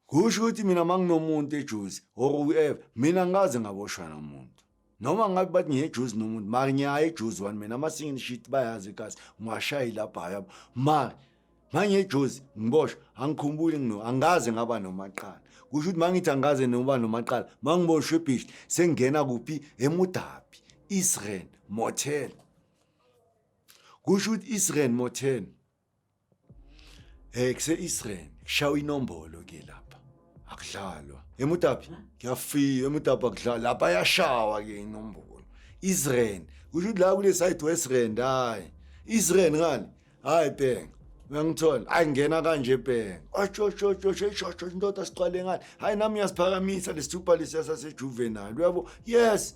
kusho ukuthi mina manginomuntu ejuzi or whoever mina ngaze ngaboshwa nomuntu noma ngabe bathi ngiyejuzi nomuntu mari ngiyaye ejuzi wani mina ama-single sheet bayazi kasi ngiwashayi lapha hayabo mari mangiyejuzi ngiboshwa angikhumbuli ngino angaze ngaba nomaqala kusho ukuthi mangithi angaze noba nomaqala mangiboshwe ebhishi sengingena kuphi emudabi israel motel kusho ukuthi israel motel Hey kuse-Israel shawa inombolo ke lapha. Akudlalwa. Emutapi ngiyafika emutapi akudlalwa lapha yashawa ke inombolo. Israel kusho ukuthi la kule side West Rand hayi. Israel ngani? Hayi bheka. Uyangithola? Hayi ngena kanje bheka. Ashoshoshoshoshosho indoda siqale ngani? Hayi nami ngiyasiphakamisa lesithupha lesiya sasejuvenile uyabo? Yes.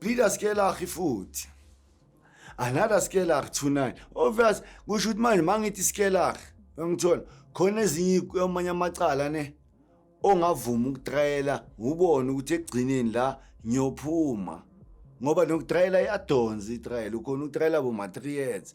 Peter Skelach futhi another Skelach 29 obvious kusho ukuthi manje mangithi Skelach ngithola khona ezinye amanye amacala ne ongavuma ukutrayela ubone ukuthi egcineni la ngiyophuma ngoba nokutrayela iyadonsa itrayela ukhona ukutrayela bo-materials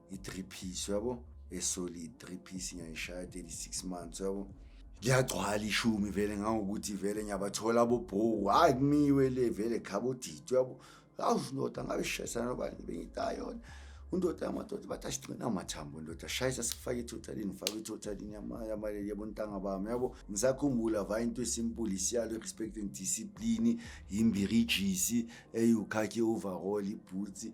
i-three piece uyabo esolid three piece ngiyayishaya 36 months uyabo liyagcwala ishumi vele ngangokuthi vele ngiyabathola abobhowu hhayi kumiwe le vele khabodidi uyabo awusho indoda ngabe shayisana nobani bengitayona undoda yamadoda bathi asigcina amathambo ndoda shayisa sifake itothalini fake itothalini yamaleli yabo ntanga bami yabo ngisakhumbula va into esimpuli siyalo respecting discipline yimbirijisi eyukhakhe overall ibhutsi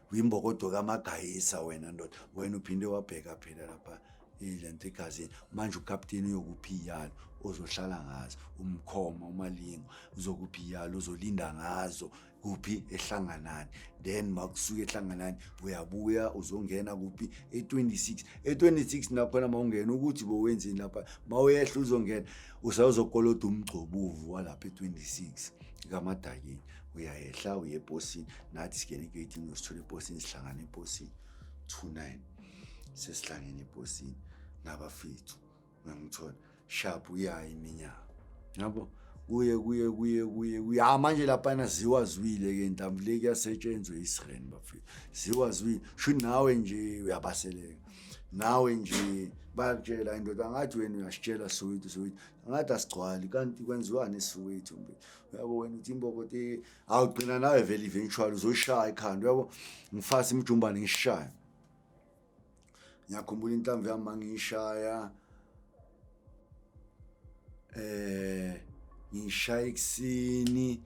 uyimbokodo kamagayisa wena ndoda wena uphinde wabheka phela lapha ile nto egazini manje ukapteni uyokuphi iyalo ozohlala ngazo umkhoma umalingo uzokuphi iyalo uzolinda ngazo kuphi ehlanganani then makusuke ehlanganani uyabuya uzongena kuphi e26 e26 nakhona mawungena ukuthi bowenzini lapha mawuyehla uzongena usawuzokoloda umgcobuvu walapha e26 kamadakini uyayehla uye ebhosini nathi singena egeyitini usithola ebhosini sihlangana ebhosini two nine sesihlangene ebhosini nabafethu uyangithola sharp uyayi iminyaka yabo kuye kuye kuye kuye kuye ha ah, manje laphana ziwazwile ke ntambo le kuyasetshenzwa isireni bafethu ziwazwile sho nawe nje uyabaseleka nawe nje bayakutshela indoda ngathi wena uyasitshela soweto soweto ngathi asigcwali kanti kwenziwani esisoweto mbe uyabo wena uthi imbobo te awugcina nawe vele eventually uzoyishaya ikhanda uyabo ngifasa imijumbane ngishaya ngiyakhumbula inhlamvu yami mangiyishaya eh ngishaya ekuseni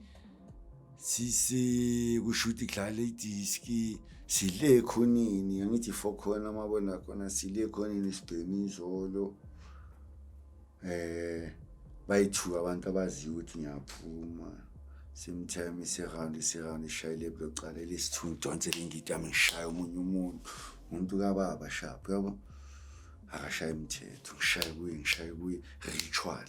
sisi kushuthi kudlala idiski sile khonini angithi fo khona mabona khona sile khonini sibhemi izolo eh bayithuka abantu abaziyo ukuthi ngiyaphuma simtime iseround iseround ishayile blocala elesithu ngidonsele ingidi yami ngishaya omunye umuntu umuntu kababa shaphi yabo akashaye imithetho ngishaye kuye ngishaye kuye ritual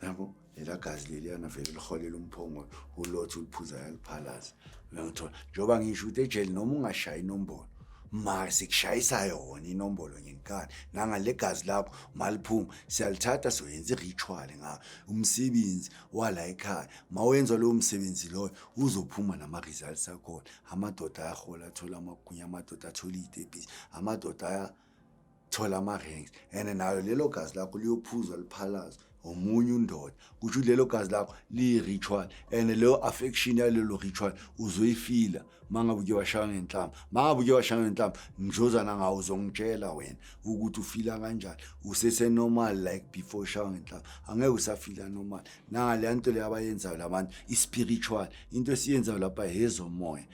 yabo lela gazi leliyana vele liholela umphongolo ulothi uliphuza yaliphalaza uyangithola njengoba ngisho ukuthi ejele noma ungashayi inombolo mara sikushayisa yona inombolo ngenkani nangale gazi lakho maliphuma siyalithatha soyenza i-ritual ngayo umsebenzi wala ekhaya ma wenza lowo msebenzi loyo uzophuma nama-results akhona amadoda ayahola athola amagunya amadoda athola iy'tebhisi amadoda thola ama-rings and nayo lelo gazi lakho liyophuzwa liphalaza omunye undoda kusho ukuthi lelo gazi lakho liyi-ritual and leyo affection yalelo ritual uzoyifila uma ngabe uke washaya ngenhlamba uma ngabe uke washaya ngenhlamba ngizozana ngawo uzongitshela wena ukuthi ufila kanjani usese-normal like before ushaya ngenhlamba angeke usafila normal nangaleya nto leyo abayenzayo labantu i-spiritual into esiyenzayo lapha hezomoya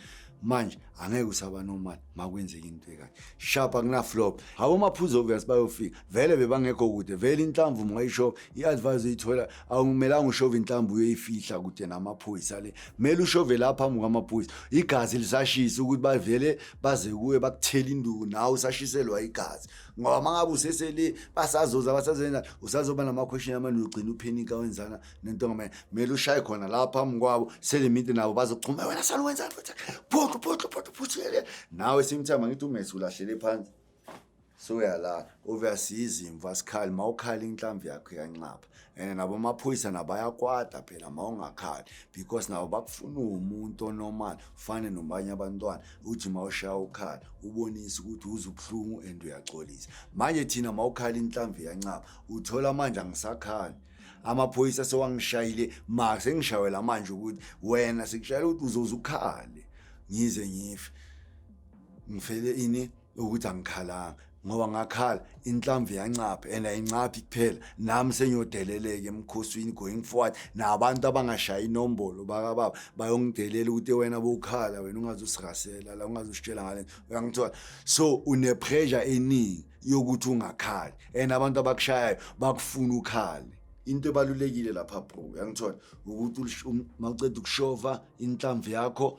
manje angeke usaba nomali makwenzeka into ekanje shapa kunaflop habo maphuzu obvious bayofika vele bebangekho kude vele inhlamvu ungayisho i-advise uyithola awumelanga ushove inhlamvu uyoyifihla kude namaphoyisa le kumele ushove la phambi kwamaphoyisa igazi lisashisa ukuthi bavele baze kuwe bakuthele induku nawe usashiselwa igazi ngoba uma ngabe usesele basazoza basazenza usazoba namakhweshini amane ugcina uphenika wenzana nento ngamele kumele ushaye khona la phambi kwabo selimite nabo bazochuma wena sani wenzani futhi phoqo phoqo phoqo phuthele nawe simthama ngithi umesi ulahlele phansi soyalala obviously izimvu asikhali ma ukhala inhlamvu yakho yanxapha and nabo amaphoyisa nabo ayakwada phela ma ungakhali because nabo bakufuna uwumuntu onormal ufane nobanye abantwana uthi ma ushaya ukhala ubonise ukuthi uze ubuhlungu and uyaxolisa manje thina ma ukhala inhlamvu yancaba uthola manje angisakhali amaphoyisa sewangishayile ma sengishayela manje ukuthi wena sekushayela ukuthi uzoze ukhale ngize ngife ngifele ini ukuthi angikhalanga ngoba ngakhala inhlamvu yancapha and ayincaphi kuphela nami sengiyodeleleka emkhosini going forward nabantu abangashayi inombolo bakababa bayongidelela ukuthi wena bowukhala wena ungazosirasela la ungazositshela ngale uyangithola so unepressure eningi yokuthi ungakhali and abantu abakushayayo bakufuna ukhale into ebalulekile lapha bro uyangithola ukuthi um, mawuceda ukushova inhlamvu yakho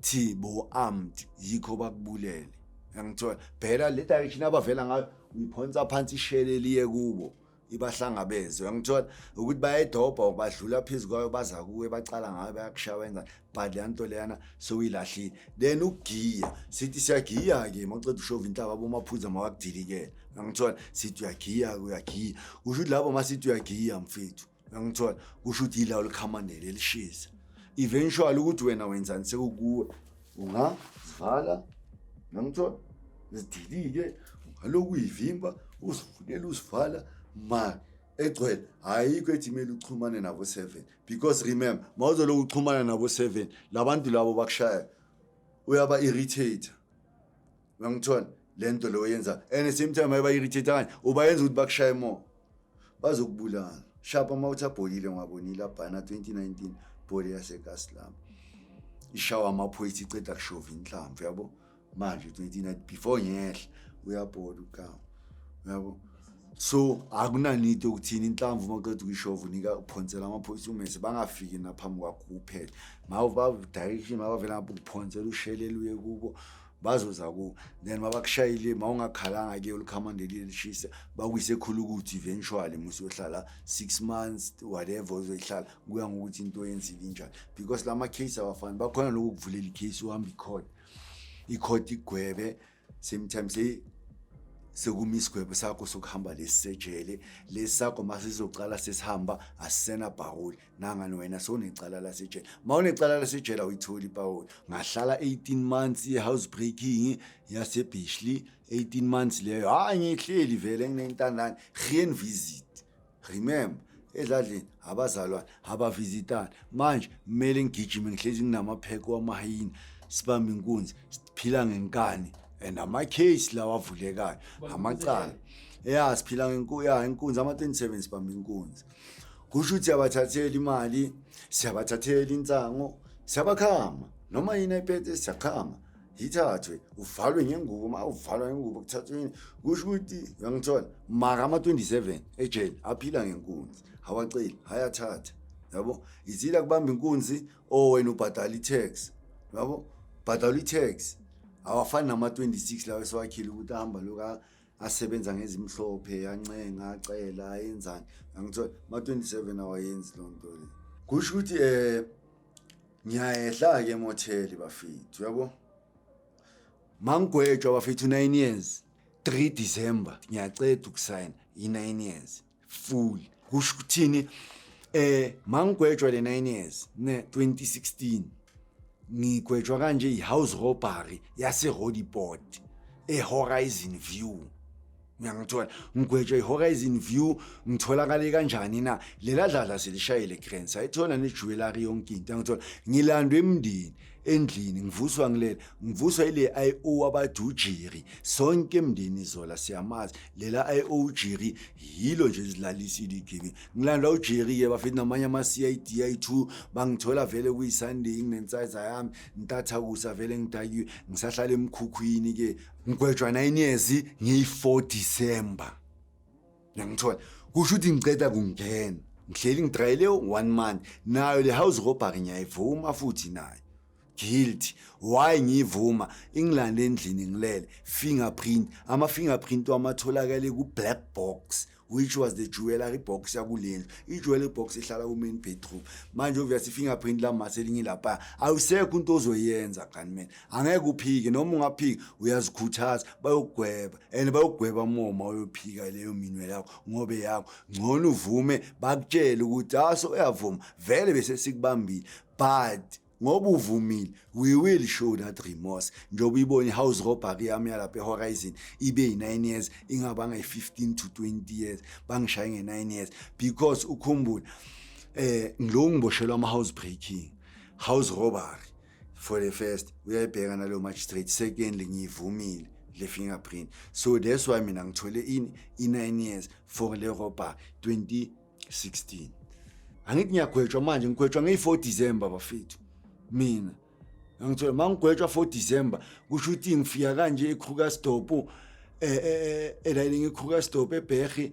thi bo armed yikho bakubulele yangithola bheka le direction abavela ngayo uyiphonsa phansi ishele liye kubo ibahlangabeze uyangithola ukuthi bayedobha or badlula phezu kwayo baza kuwe bacala ngayo bayakushaya wenza but leya nto leyana sewuyilahlile then ukugiya sithi siyagiya-ke mawuceda ushova inhlaba bomaphuza mawakudilikela uyangithola sithi uyagiya-ke uyagiya kusho ukuthi labo masithi uyagiya mfethu Ngangithola kusho ukuthi yila ulikhamanele lishisa. Eventually ukuthi wena wenzani sekukuwe ungazivala ngangithola zidilike ungalokhu uyivimba uzivukela uzivala ma egcwele ayikho ethi kumele uxhumane nabo 7 because remember mawuzolokhu uxhumana nabo 7 labantu labo bakushaya uyaba irritate Uyangithola? Le nto leyo yenza and at same time ayibayirithithe kanye ubayenza ukuthi bakushaye more. Bazokubulala. Shapa uma uthi abholile ngwabonile abhana 2019 bhole yaseKaslami. Ishawa amaphoyisa iceda kushova inhlamvu yabo. Manje 29 before ngehla uyabhola ukawo. Yabo. So akunanito ukuthini inhlamvu uma uqeda ukuyishova unika uphonsela amaphoyisa umese bangafiki naphambi kwakho kuphela. Mawu ba direction mabavela ngapha ukuphonsela ushelele uye kubo. bazoza ku then mabakushayile mawungakhalanga ke ulikhamandeli lishisa bakuyise khulu ukuthi eventually musohlala 6 months whatever uzoyihlala kuya ngokuthi into yenzile njani because lama case abafani bakhona lokho kuvulela icase uhamba icourt icourt igwebe same time say sekuma isigwebo sakho sokuhamba lesisejele lesakho masizocala sesihamba asisena bhawuli nangani wena sowunecala lasejele ma unecala lasejele awuyitholi ipawoli ngahlala 18 months ye-house breaking yasebishley 18 months leyo hhayi ngihleli vele nginentandane rien visit remember edladleni abazalwane abavizitani manje kumele ngigijime ngihlezi nginamapheko wamahayini sibambe inkunzi siphila ngenkani and ama-case lawa avulekayo amacala ya siphila ngenkuya inkunzi ama-27 sibambe inkunzi kusho ukuthi siyabathathela imali siyabathathela insango siyabakhama noma yini ayiphethe siyakhama yithathwe uvalwe ngengubo uma uvalwa ngengubo kuthathwe yini kusho ukuthi uyangithola maka ama-27 ejele aphila ngenkunzi awaceli ayathatha yabo izila kubamba inkunzi o oh, wena ubhadala i-tax yabo bhadala i-tax awafani nama-26 lawo esiwakhile ukuthi ahamba loka asebenza ngezimhlophe yancenga acela ayenzani angithola ma-27 awayenzi loo nto le kusho ukuthi um eh, ngiyayehla-ke emotheli bafethu uyabo mangigwetshwa bafethu nine years 3 december ngiyaceda ukusayina yi-nine years fool kusho ukuthini eh mangigwetshwa le 9 years ne 2016 ngigwetshwa kanje ihouse robbery yase Holyport eHorizon View ngiyangithola ngigwetshwa iHorizon View ngitholakale kanjani na lela dlala selishayile grants ayithola nejewelry yonke into ngithola ngilandwe emndeni endlini ngivuswa ngilele ngivuswa ile IO abathi ujiri sonke emndeni zola siyamazi lela IO ujiri yilo nje izilalisile igimi ngilanda ujiri ke bafethu namanye ama CID i2 bangithola vele kuyi Sunday nginensize yami ntatha kusa vele ngidakiwe ngisahlala emkhukhwini ke ngigwejwa 9 years ngiyi 4 December Ngiyangithola. Kusho ukuthi ngiceda kungena. Ngihleli ngidrayele one month. Nayo le house robbery ngiyayivuma futhi nayo. Guilty. Why ngiyivuma? Engilande endlini ngilele. Fingerprint. Ama fingerprint wamatholakale ku black box which was the jewelry box yakulendlu. I jewelry box ihlala ku main bedroom. Manje obvious fingerprint la maselinye lapha. Awusekho into ozoyenza kanimena. angeke uphike noma ungaphika uyazikhuthaza bayokugweba and bayokugweba moma uyophika leyo minwe yakho ngobe yakho ngcono uvume bakutshele ukuthi aso ah, uyavuma vele bese sikubambile but ngoba uvumile we will show that remorse njengoba uyibona i-house robbery yami yalapha ehorizon ibe yi-nine years ingabanga yi-fifteen to twenty years bangishaye nge-nine years because ukhumbule um eh, lo ngiboshelwa ama-house breaking house robbery for the first uyayibheka nalo magistrate secondly ngiyivumile le fingerprint so that's why mina ngithole in i-9 years for le robber 2016 angithi ngiyagwetshwa manje ngigwetshwa ngeyi-4 december bafethu mina ngangithola uma ngigwetshwa 4 december kusho ukuthi ngifika kanje ekrugersdorp um eh, eh, eh, elayini ngekrugersdorp ebherhi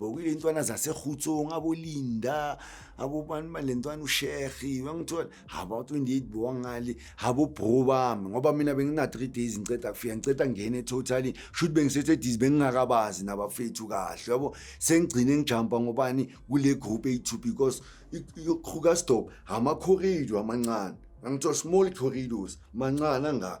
bokile ntwana zasekhutsong abolinda abobani male ntwana ushehi wangithola haba 28 bowangale habo bro bami ngoba mina bengina 3 days ngiceda kufika ngiceda ngene totally should bengisethe diz bengingakabazi nabafethu kahle yabo sengigcine ngijumpa ngobani kule group ethu because iqhuka stop ama corridor amancane ngangithola small corridors mancane anga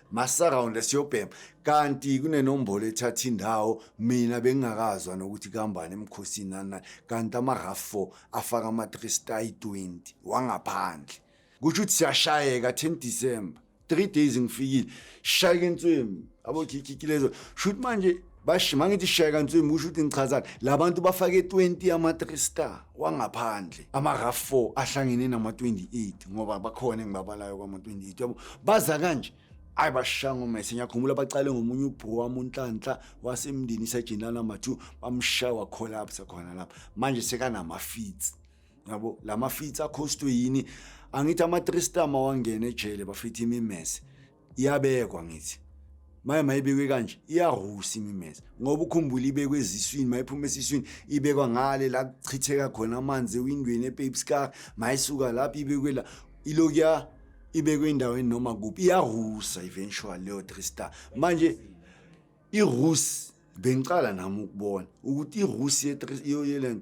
masarawunda siyobhema kanti kunenombolo ethatha indawo mina bengingakazwa nokuthi kuhambani emkhosini nanani kanti amarafo afaka ama-thrista yi-20 wangaphandle kusho ukuthi siyashayeka 10 december three days ngifikile shayeke nswemi abokhikhikilezo shuthi manje basho uma ngithi shaya kantswembi kusho ukuthi ngichazani la bantu bafake 20 ama-three star wangaphandle ama-raf 4 ahlangene nama-28 ngoba bakhona engibabalayo kwama-28 yabo baza kanje ayi bashanga umese ngiyakhumbula bacale ngomunye ubhuku wami unhlanhla wasemndeni isejenana mathu bamshaya wakholapsa khona lapha manje sekanamafitsi yabo la mafitsi akhostwe yini angithi ama-three star mawangena ejele bafitha imimese iyabekwa ngithi maye mayibekwe kanje iyahusa imimeza ngoba ukhumbula ibekwe eziswini mayiphuma esiswini ibekwa ngale la kuchitheka khona amanzi ewindweni epapescar mayisuka lapho ibekwe la ilokuya ibekwe endaweni noma kuphi iyahusa eventual leyo three star manje irusi bengicala nami ukubona ukuthi irusi yeland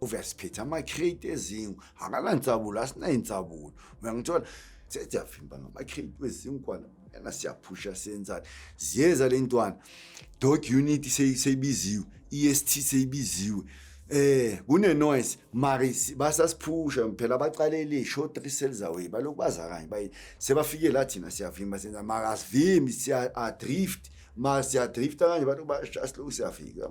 uvele siphethe ama-crate ezingu akanansabulo asinayinsabulo uyangithola sesiyavimba ngama-crate wezinkwana yena siyaphusha senzani ziyeza le ntwana dot unit seyibiziwe i-est seyibiziwe eh kune-noise mari basasiphusha phela baqalele show three cells away balokhu baza kanye bayi sebafike la thina siyavimba senza mara asivimbi siya-drift ma siyadrifta kanje bantu bashaya silokhu siyafika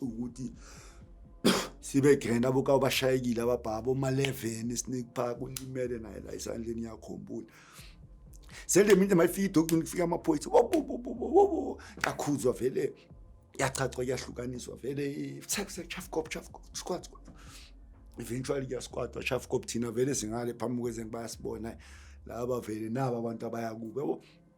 ukuthi sibe grand abokawo bashayekile ababhaba oma-11 snake park ulimele naye la esandleni yakhumbula sele mina mayifika idokugcina kufika amaphoyisa kakhuzwa vele yachachwa kuyahlukaniswa vele chafkop chafkop squad squad eventually kuyasquadwa chafkop thina vele singale phambi kwezengi bayasibona laba vele naba abantu abayakubo yabo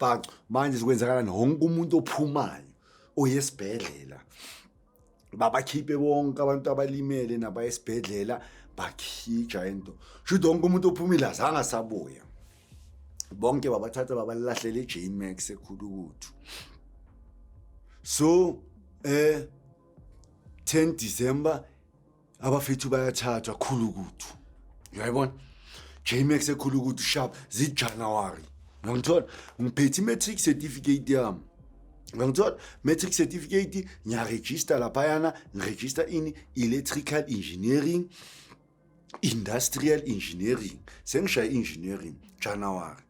bhacu manje sikwenzakalani wonke umuntu ophumayo oye esibhedlela babakhiphe bonke abantu abalimele nabaya esibhedlela bakhija into shuthi wonke umuntu ophumile azange asabuya bonke babathatha babalahlela ejmax ekhulukuthu so eh 10 december abafethu bayathathwa khulu kuthu uyayibona jmax ekhulu kuthu sharp zijanuwari uyangithola ngiphethe i-matric certificate yami ngangithola matric certificate ngiyaregista laphayana ngiregista ini electrical engineering industrial engineering sengishaya engineering january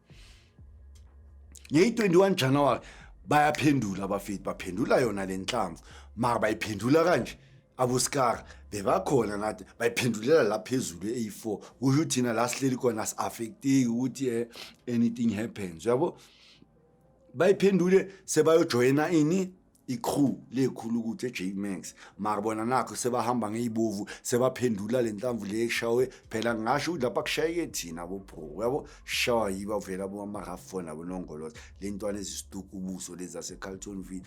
ngeyi-21 january bayaphendula abafethu baphendula yona le nhlamvu mara bayiphendula kanje abosikara bebakhona nathi bayiphendulela la phezulu eyi-four kusho thina la sihleli khona si-affekteki ukuthi um anything happens uyabo bayiphendule sebayojoyina ini i-crew lekhulu ukuthi e-j max mara bona nakho sebahamba ngey'bovu sebaphendula le ntamvu le eshawe phela ngingasho ukuthi lapha kushayeke thina bobro uyabo shawa yiba vela bomamahafona bonongoloza le ntwana ezisituka ubuso lezi zasecarlton ville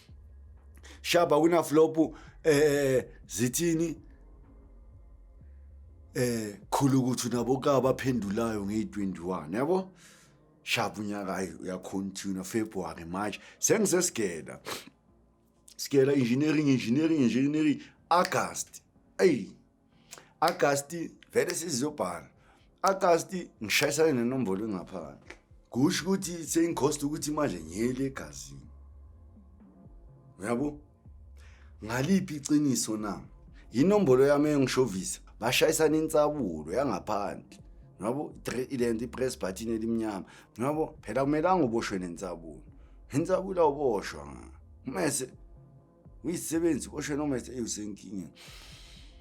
shaba wina flop eh zithini eh khulu ukuthi naboka abaphendulayo ngeyi21 yabo shabu unyaka ayi uyacontinue february march sengisesigela sigela engineering engineering engineering august eyi Agasti vele sizobhala Agasti ngishayisane nenombolo engaphandle kusho ukuthi sengikhosta ukuthi imali ngiyele egazini uyabo ngaliphi iqiniso na yinombolo yami engishovisa bashayisana insabulo yangaphandle ngoba ilento ipress button elimnyama ngoba phela kumelanga uboshwe nensabulo insabulo awuboshwa mese ngiyisebenzi osho noma eyisenkingeni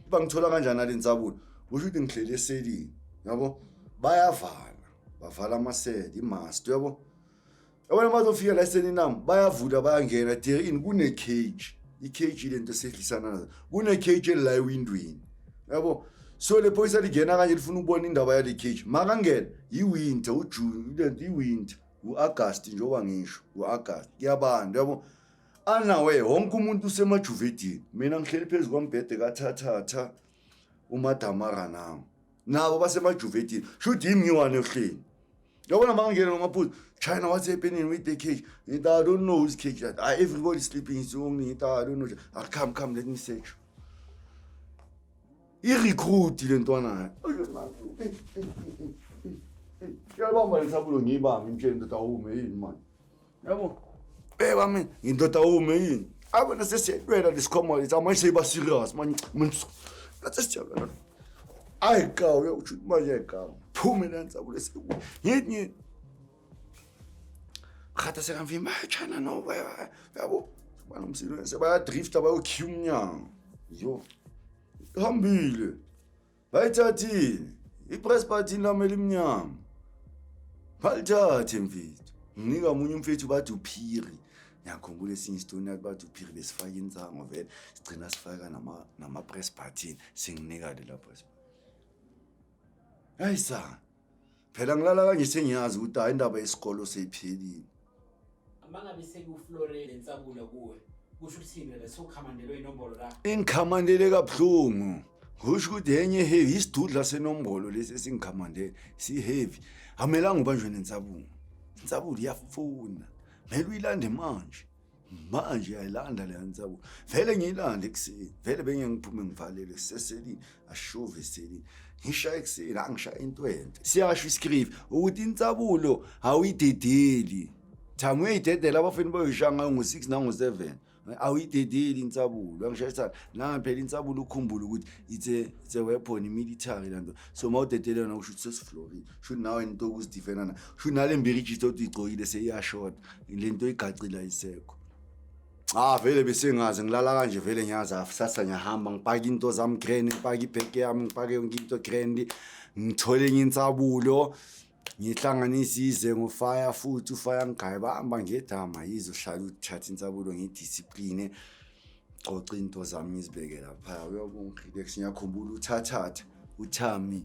uba ngithola kanjani ale nsabuni usho ukuthi ngihleli eselini yabo bayavala bavala amaseli imast yabo yabona bazofika la eselini nami bayavula bayangena de in kune-cage i-cage le nto esehlisana nazo kune-cage elila ewindweni yabo so le phoyisa lingena kanje lifuna ukubona indaba yale cage makangena yiwinter ujuni lento iwinter u-agasti njengoba ngisho u-agasti kuyabanda yabo anawe wonke umuntu usemajuvedini mina ngihleli phezu kwambhede kathathatha umadamara nawo nabo basemajuvedini shuthi yimi ngiwane ohleni yabona ma ngingena nomaphuzu china what's happening with the cage it i don't know who's cage that I, ah, everybody sleeping is only it i don't know ah, come come let me search irecruit le ntwana yabamba lesabulo ngiyibambe imtsheni ndoda awume yini mani Yabo. Eh wami ngindoda ume yini? Abo nasesiyelwela lesikhoma lethu manje seyiba serious manje. Manje nasesiyabona. Ayi cha uyokuthi manje cha. Phume lenza kulesi. Yini? Khatha sekamvimba chana no baba. Yabo. Bana umsilo bayadrifta bayokhiyumnyango. Yo. Hambile. bayithathile i-press party lami elimnyama balithathe mfethu nginika omunye umfethu bathi uphiri ngiyakhumbula esinye isitoni yathi bathi uphiri besifaka insango vele sigcina sifaka nama-press partin singinika lela press hayi sa phela ngilala kanje sengiyazi ukuthi hayi indaba yesikolo seyiphelile mangabe sekuflore lensabulo kuwe kusho ukuthini le sokhamandelwe inombolo la ingikhamandele kabuhlungu husho ukuthi enye heavy isidudla senombolo lesi esingikhamandele siheavy amelanga ubanjwe nensabulo insabulo iyafuna mele uyilande manje manje yayilanda leya nsabulo vele ngiyilanda ekuseni vele bengeke ngiphume ngivalele kuseselini ashove eselini ngishaye ekuseni angishaye intwente siyasho isikrive ukuthi insabulo awuyidedeli thanga uyayidedela abafeni bayoyishaya ngayo ngo-six nango-seven awuyidedeli insabulo angishayisana nami phela insabulo ukhumbula ukuthi it's a, it's a weapon military lanto so uma udedele yona kusho ukuthi sesiflorida shuthi nawe into okuzidifena na shuthi nale mberijitsi othi uyigcokile seyiyashoda le nto igacile ayisekho Ah vele besengazi ngilala kanje vele ngiyaza sasa ngiyahamba ngipake into zami grand ngipake ibheke yami ngipake yonke into grand ngithole enye insabulo ngihlanganise ize ngofaya futhi ufaya ngigaye bahamba ngedama yize uhlala uthatha insabulo ngidiscipline xoxa into zami ngizibeke lapha uyabonga relax ngiyakhumbula uthathatha uthami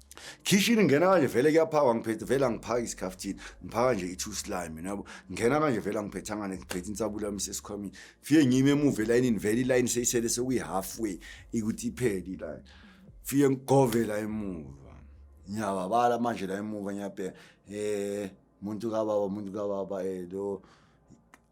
khishini ngena kanje vele kuyaphakwa ngiphethe vele angiphaki isikhaftini ngiphaka nje i-two slime nabo ngena kanje vele angiphethangane ngiphethe insabula yami sesikhwamini fike ngime emuva elayinini vele ilayini seyisele sekuyi-half way ikuthi iphele ilayini fike ngigove la emuva ngiyababala manje la emuva ngiyabheka um muntu kababa muntu kababa eh lo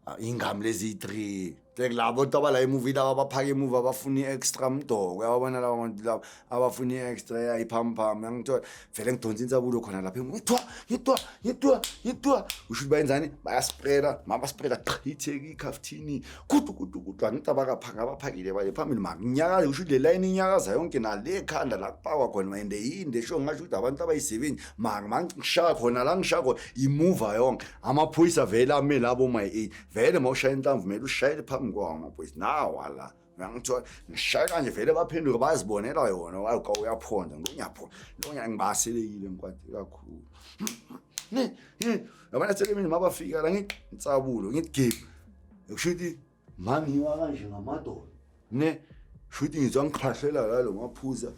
ah, ingam lezi 3 like labo to abala emuvi laba baphaka emuva abafuni extra mdoko yabona laba bantu laba abafuni extra yayiphampam yangithola vele ngidonsa insabulo khona lapha ngitwa ngitwa ngitwa ngitwa usho bayenzani bayasprela mama sprela qhitheke ikhaftini kudu kudu kudu angicaba kaphanga abaphakile baye phambili makunyakaza usho le line inyakaza yonke nale khanda la kupakwa khona ende yinde sho ngasho ukuthi abantu abayisebenzi mani mangishaya khona la ngishaya khona imuva yonke amaphoyisa vele ame labo my eight vele uma ushaya inhlamvu kumele ushayele phambi kwawo amaphoyisa nawa la ngangithiwa ngishaya kanje vele baphenduke bazibonela yona wayeka uyaphonda ngonyaphonda lonya ngibaselekile ngikwade kakhulu yabona selemini mabafika la ngitsabule ngigibe kusho ukuthi Mangiwa kanje ngamadolo. Ne shuthi ngizwa ngikhahlela la lo maphuza.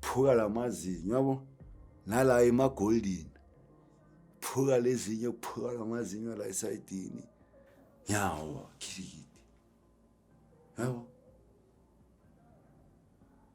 Phuka lamazinyo yabo. Nala ema golden. Phuka lezinyo phuka lamazinyo la esayidini. Yawa khiliki. Yabo.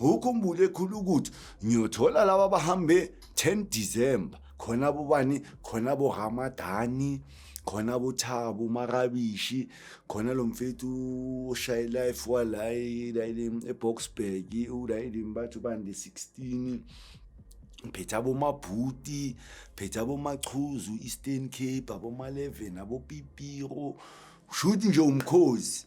ukhumbule khulu ukuthi ngiyothola laba bahambe 10 December khona bobani khona bo Ramadani khona bothabo makabishi khona lo mfethu oshaye life walayi layini eboxburg ulayini bathu bande 16 phethe abomabhuti phethe abomachuzu eastern cape aboma-11 abopipiro shuthi nje umkhozi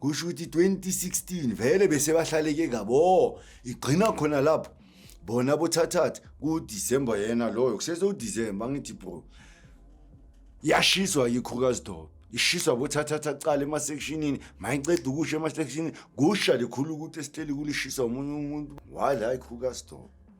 kusho ukuthi 2016 vele bese bahlaleke kabo igcina khona lapho bona bothathatha kuDecember yena loyo kusese uDecember ngithi bro yashiswa yikhukazi dobe ishiswa bothathatha cala emasectionini mayiqeda ukusha emasectionini kusha likhulu ukuthi esihleli kulishiswa omunye umuntu why la ikhukazi dobe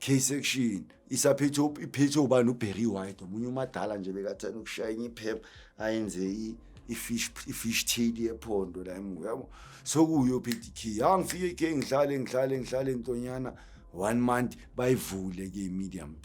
K-section isaphethe iphethe ubani uBerry White omunye umadala nje bekathanda ukushaya enye iphepha ayenze i-fish i-fish tail yephondo la emuva yabo sokuyo phethe ikhiyi ha ngifike ikhiyi ngihlale ngihlale ngihlale ntonyana one month bayivule ke i-medium b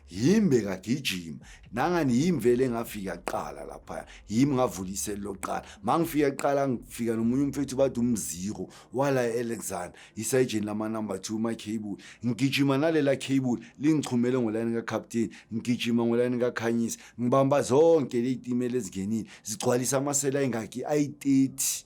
yimi bekagijima nangani yimi vele ngafika kuqala laphaya yimi ngavula iseli lokuqala ma ngifika kuqala ngifika nomunye umfethu bathi umziro wala e-alexander isayijeni lamanumber two macable ngigijima nalela cable lingichumele ngolayini kacaptain ngigijima ngolayini kakhanyisa ngibamba zonke ley'timela ezingenile zigcwalisa amasela ayingaki ayi-thirty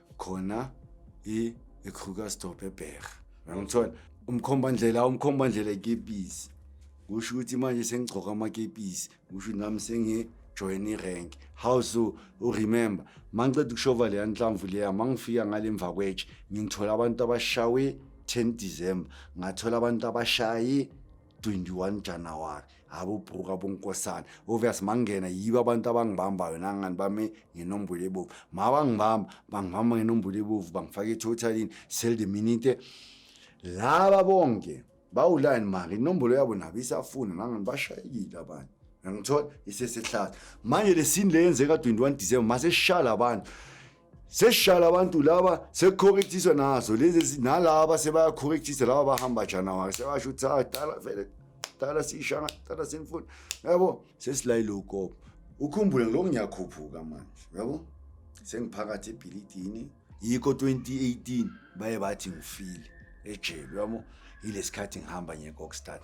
khona i-krugersdorp ebheka uyangithola umkhombandlela umkhombandlela ekepisi kusho ukuthi manje sengigcoka amakepisi kusho ukuthi nami sengijoyina irank how so uremember ma ngiceda ukushova leya nhlamvu leya ma ngifika ngale mva kwetshe ngithola abantu abashawe 10 december ngathola abantu abashaye 21 januwari abobhuka bonkosana obvious mangena yibo abantu abangibambayo nangani bame ngenombolo ebovu ma bangibamba bangibamba ngenombolo ebovu bangifake etotalini sell the minute laba bonke bawulani mari inombolo yabo nabo isafuna nangani bashayekile abanye ngangithola isesehlaza manje le sini le yenzeka 21 december masesishala abantu sesishala abantu laba sekucorrectiswa nazo lezi nalaba sebayacorrectisa laba bahamba januwari sebasho ukuthi ah dala vele dala siyishana dala sinifuna yabo sesilayile ukopo ukhumbule ngiloko ngiyakhuphuka manje yabo sengiphakathi ebhilidini yikho 2018 baye bathi ngifile ejele yabo yilesikhathi ngihamba ngekokstat